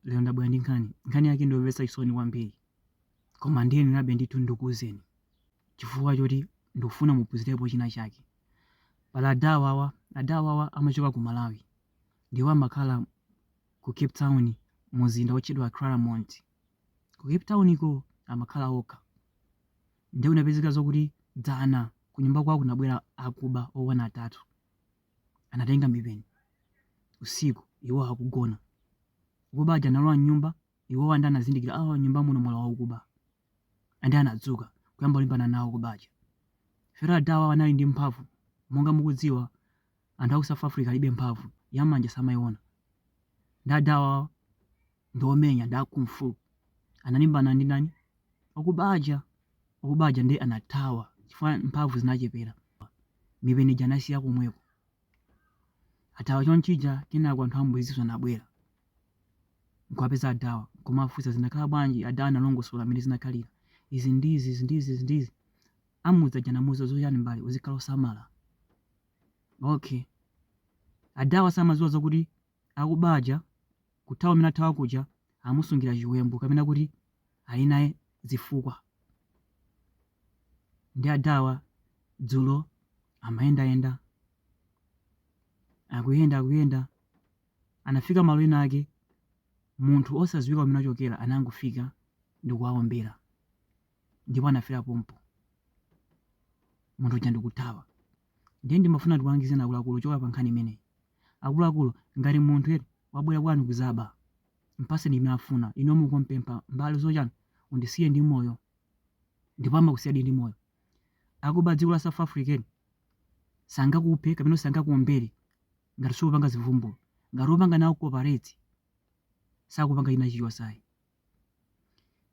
lero ndabwera ndi nkhani nkhani yake ndiyomvetsa chisoni kwambiri koma ndiyenerabe ndithu ndikuuzeni chifukwa choti ndikufuna muphunzirepo china chake pali adawawa amachoka ku malawi ndipo amakhala ku cape town mumzinda wotchedwa claremont ku cape town ko amakhala okha ndiye kunapezeka zokuti dzana kunyumba kwawo kunabwera akuba oona atatu anatenga mipeni usiku iwo akugona akuba aja analowa mnyumba iwo ndi anazindikira ah, mnyumba muno mwalowa akuba ndi anadzuka kuyamba kulimbana nawo akuba aja fera adawawa anali ndi mphamvu monga mukudziwa anthu aku south africa alibe mphamvu yamanja samaiona ndi adawa ndi omenya ndi a kung fu analimbana ndi ndani okuba aja okuba aja ndiye anathawa chifukwa mphamvu zinachepera mipeni ija anasiya komweko athawa chonchija kenako anthu ammudzi anabwera nkuwapeza adawa nkumafunsa zinakhala bwanji adawa analongosola mmene zinakhalira izi ndizi izi ndizi izi ndizi ammudzi aja anamuuza zoti chani mbale uzikhala osamala okay adawa samadziwa zakuti Akuba aja kuthawa kumene athawa kuja amusungira chiwembu kapena kuti ali naye zifukwa. Ndi adawa dzulo amayendayenda, akuyenda akuyenda anafika malo ena ake munthu osadziwika kumene achokera anangofika ndikuwaombera ndipo anafera pompo munthu uja ndikuthawa. Ndiye ndimafuna ndikulangizeni akuluakulu kuchokera pa nkhani imeneyi. Akuluakulu, ngati munthu eti wabwera kwanu kuzaba, mpaseni chimene afuna. Inuyo mukumpempha mbale zoti chani? Undisiye ndi moyo. Ndipo amakusiyadi ndi moyo. Akuba adziko la South Africa eti sangakuphe kapena kuti sangakuombere ngati sukupanga zimvulumvulu. Ngati ukupanga nawo cooperate, sakupanga china chilichonse ayi.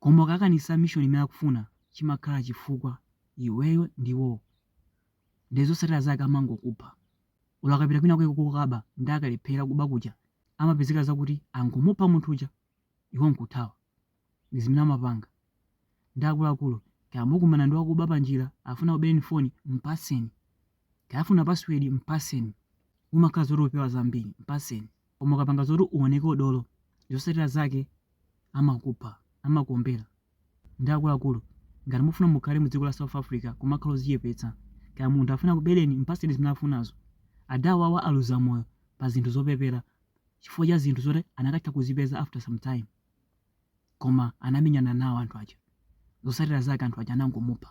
Koma ukakanisa mission imene akufuna, chimakhala chifukwa iweyo ndi iwowo. Ndiye zotsatira zake amangokupha. olo akapita kwina kwake kukaba ndi akalephera kuba kuja amapezeka zakuti angomupha munthu uja iwo nkuthawa ndi zimene amapanga ndi akuluakulu kaya mukumana ndi wakuba panjira afuna kubereni foni mpaseni kaya afuna password mpaseni umakhala zoti upewa zambiri mpaseni koma ukapanga zoti uoneke udolo zosatira zake amakupha amakuombera ndi akuluakulu ngati mufuna mukhale mudziko la south africa kumakhala ozichepetsa kaya munthu afuna akubeleni mpaseni zimene afunazo adawawa aluza moyo pa zinthu zopepera chifukwa cha zinthu zoti anakatha kuzipeza after some time koma anamenyana nawo anthu aja zosatira zake anthu aja anangomupha